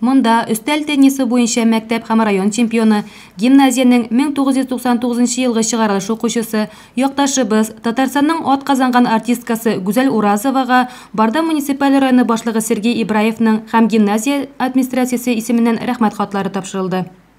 Монда, өстәл теннисы буенча мәктәп һәм район чемпионы, гимназиянең 1999 елгы чыгарылыш укучысы, якташыбыз, Татарстанның атказанган артисткасы Гүзәл Уразовага, Барда муниципаль районы башлыгы Сергей Ибраевның һәм гимназия администрациясе исеменнән Рәхмәт хатлары тапшырылды.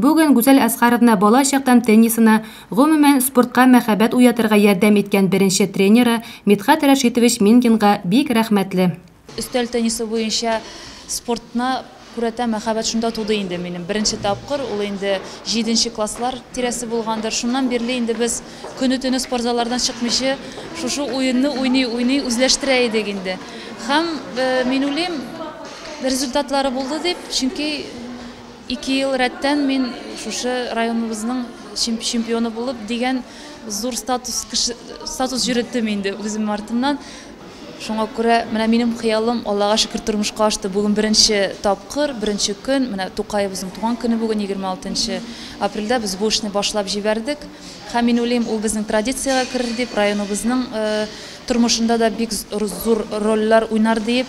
Бүген Гүзәл Әсгаровна бала чактан теннисына, гомумән, спортка мәхәббәт уятырга ярдәм иткән беренче тренеры Мидхәт Рәшитович Мингинга бик рәхмәтле. Өстәл теннисы буенча спортна күрәтә мәхәббәт шунда туды инде минем. Беренче тапкыр, ул инде җиденче класслар тирәсе булгандыр, шуннан бирле инде без көне-төне спортзаллардан чыкмыйчы шушы уенны уйный-уйный үзләштерә идек инде. Һәм мин уйлыйм, результатлары булды дип, чөнки Ике ел рәттән мин шушы районыбызның чемпионы булып, дигән зур статус статус йөреттем инде үзем артымнан. Шуңа күрә менә минем хыялым, Аллага шөкер, тормышка ашты. Бүген беренче тапкыр, беренче көн, менә Тукаебызның туган көне бүген, 26 нчы апрельдә без бу эшне башлап җибәрдек. Һәм мин уйлыйм, ул безнең традициягә керер дип, районыбызның тормышында да бик зур рольләр уйнар диеп.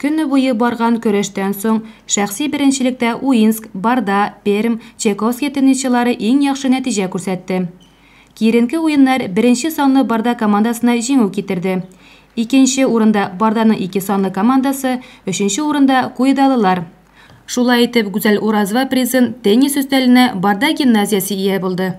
Көне буе барган көрәштән соң, шәхси беренчелектә Уинск, Барда, Пермь, Чайковский теннисчылары иң яхшы нәтиҗә күрсәтте. Киеренке уеннар беренче санлы Барда командасына җиңү китерде. Икенче урында Барданың ике санлы командасы, өченче урында, куйдалылар. Шулай итеп, Гүзәл Уразова призын теннис өстәленә Барда гимназиясе ия булды.